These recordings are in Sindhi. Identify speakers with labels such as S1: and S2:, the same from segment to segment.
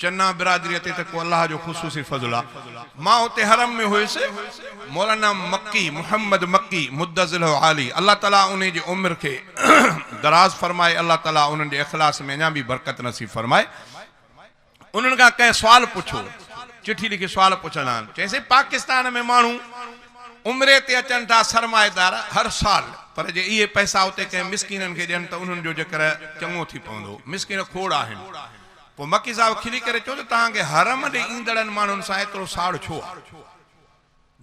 S1: چنا برادريء تي ته ڪو الله جو خصوصي فضل آ. مان اتي حرم ۾ هيس. مولانا مڪي، محمد مڪي، مدّ ظله عالي، الله تعاليٰ انهي جي عمر کي دراز فرمائي، الله تعاليٰ انهن جي اخلاص ۾ اڃا به برڪت نصيب فرمائي. انهن کان ڪنهن سوال پڇو، چٺي لکي سوال پڇندا آهن. چيائينسين، پاڪستان ۾ ماڻهو عمري تي اچن ٿا، سرمائيدار، هر سال، پر جي اهي پئسا اتي ڪنهن مسڪينن کي ڏين ته انهن جو جيڪر چڱو ٿي پوندو. مسڪين کوڙ آهن. پوء مڪي صاحب کلي ڪري چيو ته توهان کي حرم ڏي ايندڙن ماڻهن سان ايترو ساڙ ڇو آ؟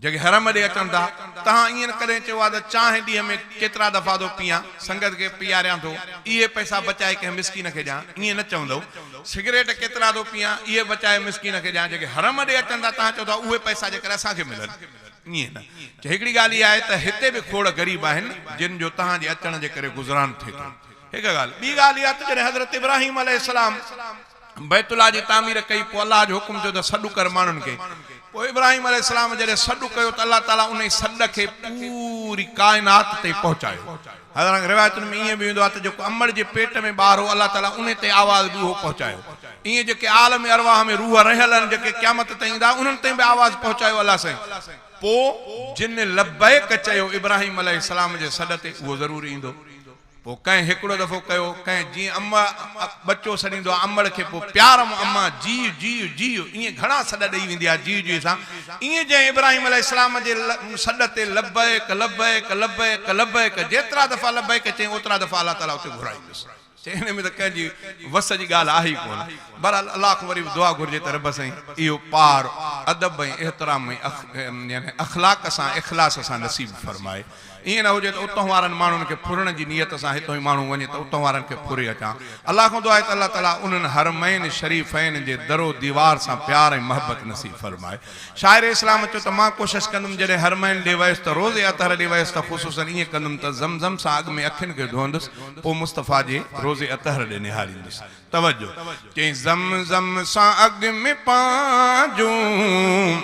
S1: جيڪي حرم ڏي اچن ٿا، توهان ائين ڪڏهن چيو آ ته چانهه ڏينهن ۾ ڪيترا دفعا ٿو پيئان، سنگت کي پيئاريان ٿو، اهي پئسا بچائي ڪنهن مسڪين کي ڏيان، ائين نه چوندؤ. سگريٽ ڪيترا ٿو پيئان، اهي بچائي مسڪين کي ڏيان، جيڪي حرم ڏي اچن ٿا، توهان چئو ٿا اهي پئسا جي ڪري اسان کي ملن، ائين نه. چي هڪڙي ڳالهه اها آهي ته هتي به کوڙ غريب آهن، جن جو توهان جي اچڻ جي ڪري گذران ٿئي ٿو. هڪ ڳالهه، ٻي ڳالهه اها ته جڏهن حضرت ابراهيم عليه السلام بيت الله جي تعمير ڪئي پوء الله جو حڪم ٿيو ته سڏ ڪر ماڻهن کي. پوء ابراهيم عليه السلام جڏهن سڏ ڪيو ته الله تعاليٰ انهي سڏ کي پوري ڪائنات تائين پهچايو. حضران روايتن ۾ ائين به ايندو آهي ته جيڪو امڙ جي پيٽ ۾ ٻار هو الله تعاليٰ انهي تائين آواز به اهو پهچايو. ائين جيڪي عالم ارواح ۾ روح رهيل آهن جيڪي قيامت تائين ايندا انهن تائين به آواز پهچايو الله سائين. پوء جن لبيڪ چيو ابراهيم عليه السلام جي سڏ تي اهو ضرور ايندو. پوء ڪنهن هڪڙو دفعو ڪيو، ڪنهن جيئن امڙ ا ٻچو سڏيندو آهي امڙ کي، پوء پيار م اما، جيء جيء جيء ائين گهڻا سڏ ڏئي ويندي آهي جيء جيء سان، ائين جئين ابراهيم عليه السلام جي ل م سڏ تي لبيڪ لبيڪ لبيڪ لبيڪ جيترا دفعا لبيڪ چئين اوترا دفعا الله تعاليٰ اتي گهرايندس. چئين انهي ۾ ته ڪنهن جي وس جي ڳالهه آهي ئي ڪونه. بهرحال الله کان وري به دعا گهرجي ته رب سائين اهو پار ادب ۽ احترام ۽ اخ يعني اخلاق سان اخلاص سان نصيب فرمائي. ائين نه هجي ته اتون وارن ماڻهن کي ڦرڻ جي نيت سان هتون ئي ماڻهو وڃي ته اتون وارن کي ڦري اچان. الله کان دعا آهي ته الله تعاليٰ انهن حرمين شريفين جي در و ديوار سان پيار ۽ محبت نصيب فرمائي. شاعر اسلام چيو ته مان ڪوشش ڪندم جڏهن حرمين ڏي ويس ته روز اطهر ڏي ويس ته خصوصاً ائين ڪندم ته زمزم سان اڳ ۾ اکين کي ڌوئندس پوء مصطفيٰ جي روضي اطهر ڏي نهاريندس. توجه! چيائين زمزم سان اڳ ۾ پنهنجون.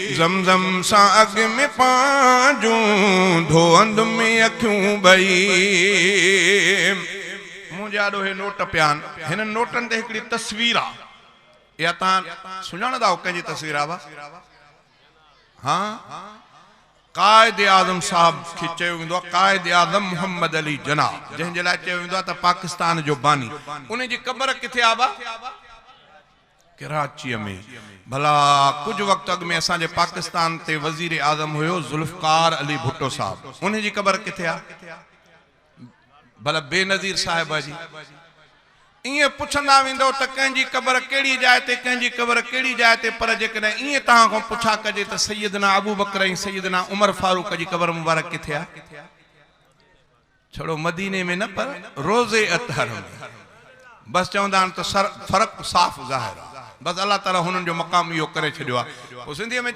S1: زم زم سان اڳ ۾ پنهنجون ڌوئندم اکيون ٻئي. منهنجي آڏو هي نوٽ پيا آهن. هنن نوٽن تي هڪڙي تصوير آ. اها توهان سڃاڻندا آهيو ڪنهن جي تصوير آ ڀا؟ هان؟ قائد اعظم صاحب کي چيو ويندو آ قائد اعظم محمد علي جناح جنهن جي لاء چيو ويندو آ ته پاڪستان جو باني. انهي جي قبر ڪٿي آ ڀا؟ ڪراچيء ۾، ڀلا ڪجهه وقت اڳ ۾ اسان جي پاڪستان تي وزير اعظم هيو ذوالفقار علي ڀٽو صاحب، ان جي قبر ڪٿي آ؟ ڀلا بينظير صاحب جي؟ ائين پڇندا ويندؤ ته ڪنهن جي قبر ڪهڙي جاء تي، ڪنهن جي قبر ڪهڙي جاء تي، پر جيڪڏهن ائين توهان کان پڇا ڪجي ته سيدنا ابوبڪر ۽ سيدنا عمر فاروق جي قبر مبارڪ ڪٿي آ؟ ڇڙو مديني ۾ نه پر روضي اطهر ۾ بس چوندا آهن ته فرق صاف ظاهر آهي بس الله تعالي هنن جو مقام اهو ڪري ڇڏيو آهي.